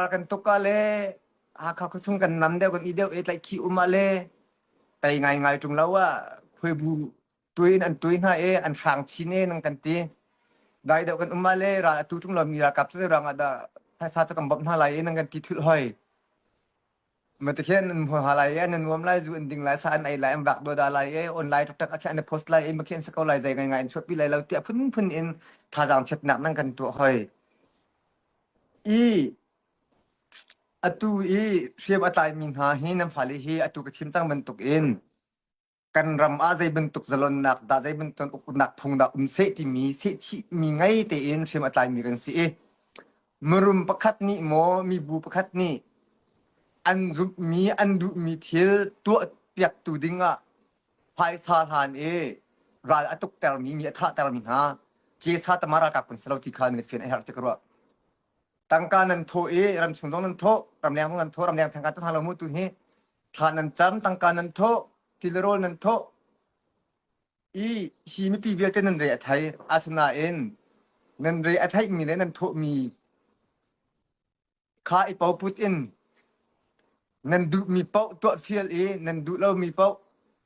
kan tuka le Hakha khuachung kan nam deuh kan i deuh e tlaih khi uma le tai ngai ngai tum lo a khui bu tui in an tui hna e an hrang chin e nang kan ti dai deuh kan uma le ral atu tum lo mi ral kap chu rang ada sa sa kan bop hna lai e nang kan ti thul hoi Matikhin nan hmuha lai e, nan nuam lai, zu an ding lai, sa an ei lai, an vak doda lai e, online tok tak a na post lai e, makhin sa ko lai, zai ngai ngai in chuapi lai lo, tia phun phun in thazang chet nak nan kan tuah hoi. I atu i hriam a tlai mi hna hi nan fale hi atu ka chim cang bantuk in kan ram ah zei bantuk zalonnak dah zei bantuk uknak phung dah um seh timi sehchih mi ngei tein hrim a tlaimi kan si i mirum pakhat nih maw mibu pakhat nih an zumhmi an duhmi thil tuah piaktu ding ah phaisa hlan i ral a tuktermi mi a thahtermi hna Jesa tamara kak kun salo ti khan min fian a herh tik ruah tangka nan thawh i ramchung zong nan thawh ramleng zong nan thawh ramleng thangka tha lo mu tu hi thla nan cam tangka nan thawh tilirawl nan thawh i hi mipi vialte nan re a thai asinain nan re a theih mi le nan thawh mi kha i poput in nan duh mi paoh tuah fial i nan duh lo mi paoh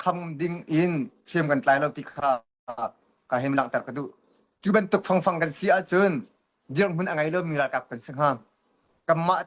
kham ding in thiam kan tlai lo ti kha ka him langhter ka duh cu bantuk fangfang kan si ahcun dirhmun a ngei lomi ralkap kan si hnga kanmah